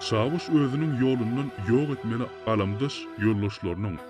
Çawuş özüniň ýolundan ýok etmeli galamdaş ýoldaşlarynyň.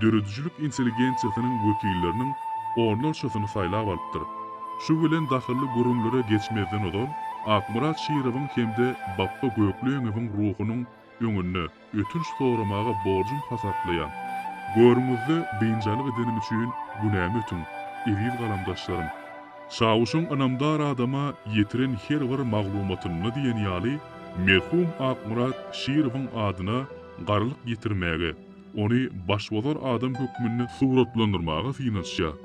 döredijilik intelligensiýasynyň wekilleriniň onlarçasyny saýlap alypdyr. Şu bilen dahylly gürrüňlere geçmezden ozal, Akmyrat Şirowyň hem-de Bapba Gökleňewiň ruhunyň öňünde ötünç soramagy borjum hasaplaýan. Görüňizde biynjalyk edenim üçin günämi ötüň, eziz galamdaşlarym. Çawuşyň ynamdar adama ýetiren her bir maglumatynda diýen ýaly, merhum Akmyrat Şirowyň adyna garlyk ýetirmäge, ony başbozar adam hökmünde suratlandyrmaga synanyşýar.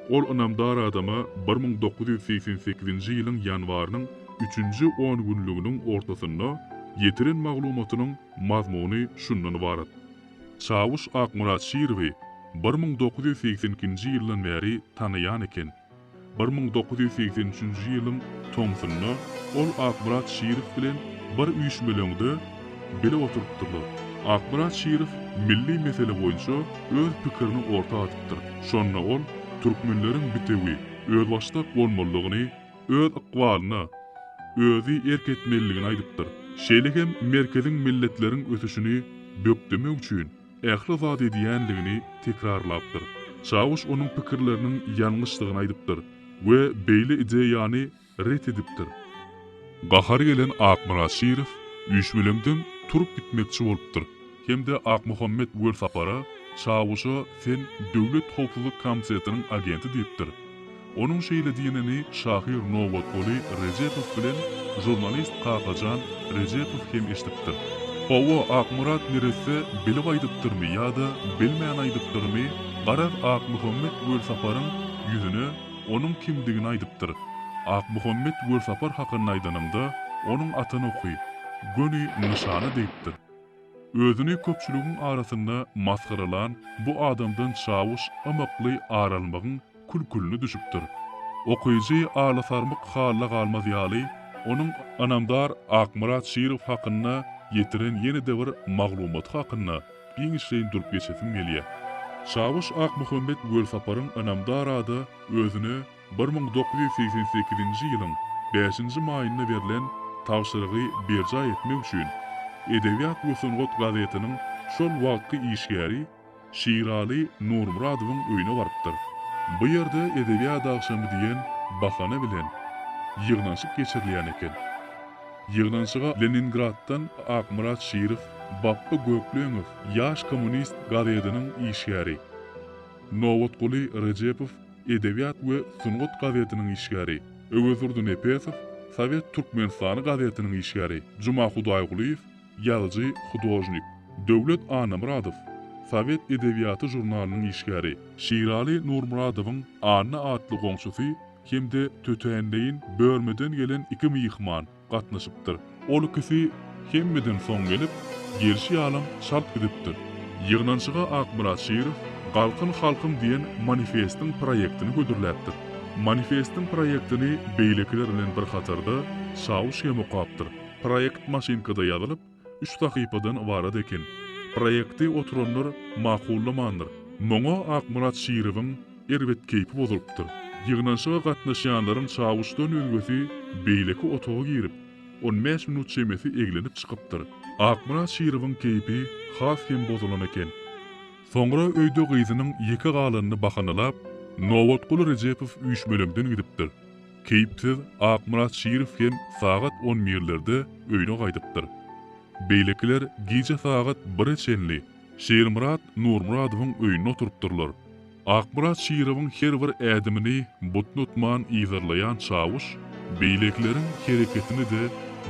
Ol ynamdar adama bir müň dokuz ýüz segsen sekizinji ýylyň ýanwarynyň üçünji on günlüginiň ortasynda ýetiren maglumatynyň mazmuny şundan ybarat, Çawuş Akmyrat Şirowy bir müň dokuz ýüz segsen ikinji ýyldan bäri tanaýan eken. Bir müň dokuz ýüz segsen üçünji ýylyň tomsunda ol Akmyrat Şirow bilen bir üýşmeleňde bile oturypdyrlar. Akmyrat Şirow milli mesele boýunça öz pikirini orta atypdyr. Şonda ol türkmenleriň bitewi, özbaşdak bolmalydygyny, öz ykbalyna özi erk etmelidigini aýdypdyr. Şeýle hem merkeziň milletleriň ösüşini bökdemek üçin, ähli zat edýänligini tekrarlapdyr. Çawuş onuň pikirleriniň ýalňyşdygyny aýdypdyr we beýle ideýany ret edipdir. Gahary gelen Akmyrat Şirow üýşmeleňden turup gitmekçi bolupdyr hem-de Akmuhammet Welsapara, Çawuşa sen Döwlet howpsuzlyk komitetiniň agenti diýipdir. Onuň şeýle diýenini şahyr Nobatguly Rejepow bilen žurnalist Kakajan Rejepow hem eşidipdir. Hawa, Akmyrat neresse bilip aýdypdyrmy ýa-da bilmän aýdypdyrmy, garaz, Akmuhammet Welsaparyň ýüzüne onuň kimdigini aýdypdyr. Akmuhammet Welsapar hakynda aýdanyňda, onuň atan oky, göni nyşany degipdir. Özüni köpçüligiň arasynda masgaralan bu adamdan çawuş ymykly ar almagyň kül-külüne düşüpdir. Okyjy alasarmyk halda galmaz ýaly, onuň ynamdar Akmyrat Şirow hakynda ýetiren ýene-de bir maglumaty hakynda giňişleýin durup geçesim gelýär. Çawuş Akmuhammet Welsaparyň ynamdar ada özüne bir müň dokuz ýüz segsen sekizinji ýylyň bäşinji maýynda berlen tabşyrygy berjaý etmek üçin Edebiýat we sungat gazetiniň şol wagtky işgäri Şiraly Nurmyradowyň öýüne barypdyr. Bu ýerde edebiýat agşamy diýen bahana bilen ýygnanyşyk geçirilýän eken. Ýygnanyşyga Leningraddan Akmyrat Şirow, Bapba Gökleňow, Ýaş kommunist gazetiniň işgäri, Nobatguly Rejepow, Edebiýat we sungat gazetiniň işgäri, Öwezdurdy Nepesow, Sowet Türkmenistany gazetiniň işgäri, Juma Hudaýgulyýew, Ýazyjy, hudožnik Döwlet Annamyradow, Sowet edebiýaty žurnalynyň işgäri. Şiraly Nurmyradowyň Anna atly goňşusy hem-de tötänleýin bölmeden gelen iki myhman gatnaşypdyr. Ol ikisi hemmeden soň gelip, gelşi ýalam çalt gidipdir. Ýygnanyşyga Akmyrat Şirow Galkyn halkym diýen manifestiň proýektini hödürläpdir. Manifestiň proýektini beýlekiler bilen bir hatarda Çawuş hem okapdyr. Proýekt maşynkada ýazylyp, üç sahypadan ybarat eken. Proýekti oturanlar makullamandyr. Muňa Akmyrat Şirowyň erbet keýpi bozulypdyr. Ýygnanyşyga gatnaşýanlaryň çawuşdan özgesi beýleki otaga girip, on bäş minut çemesi eglenip çykypdyr. Akmyrat Şirowyň keýpi has hem bozulan eken. Soňra öýde gyzynyň ýeke galanyny bahanalap, Nobatguly Rejepow üýşmeleňden gidipdir. Keýpsiz Akmyrat Şirow hem sagat on birlerde öýüne gaýdypdyr. Beýlekiler gije sagat bire çenli Şirmyrat Nurmyradowyň öýünde oturypdyrlar. Akmyrat Şirowyň her bir ädimini butnutman yzarlaýan çawuş beýlekileriň hereketini-de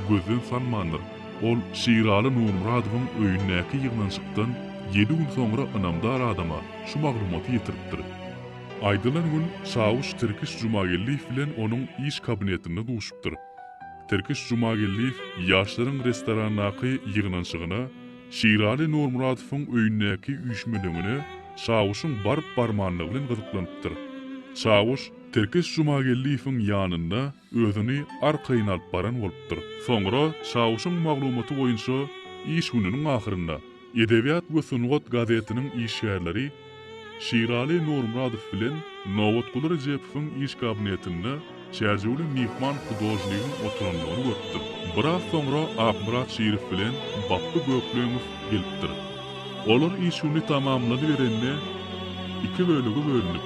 gözden salmandyr. Ol Şiraly Nurmyradowyň öýündäki ýygnanyşykdan ýedi gün soňra ynamdar adama şu maglumaty ýetiripdir. Aýdylan gün çawuş Tirkiş Jumageldiýew bilen onuň iş kabinetinde duşupdyr. Tirkiş Jumageldiýew ýaşlaryň restorandaky ýygnanyşygyna, Şiraly Nurmyradowyň öýündäki üýşmeleňine çawuşyň baryp-barmanlygy bilen gyzyklanypdyr. Çawuş Tirkiş Jumageldiýewiň ýanynda özüni arkaýyn alyp baran bolupdyr. Soňra Çawuşyň maglumaty boýunça iş gününiň ahyrynda Edebiýat we sungat gazetiniň işgärleri Şiraly Nurmyradow bilen Nobatguly Rejepowyň iş kabinetinde çärjewli myhman hudožnigiň oturandygyny görüpdir. Biraz soňra Akmyrat Şirow bilen Bapby Gökleňow gelipdir. Olar iş güni tamamlanyberende iki bölege bölünip,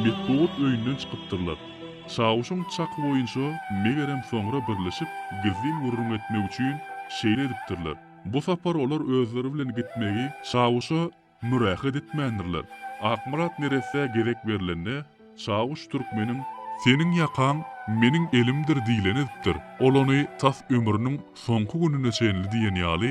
metbugat öýünden çykypdyrlar. Çawuşyň çaky boýunça, megerem soňra birleşip, gizlin gürrüň etmek üçin, şeýle edipdirler. Bu sapar olar özleri bilen gitmegi Çawuşa mürähet etmändirler. Akmyrat neresse gezek berlende, Çawuş türkmeniň. Seniň ýakaň meniň elimdir diýleni edipdir. Ol ony tas ömrüniň soňky gününe çenli diýen ýaly,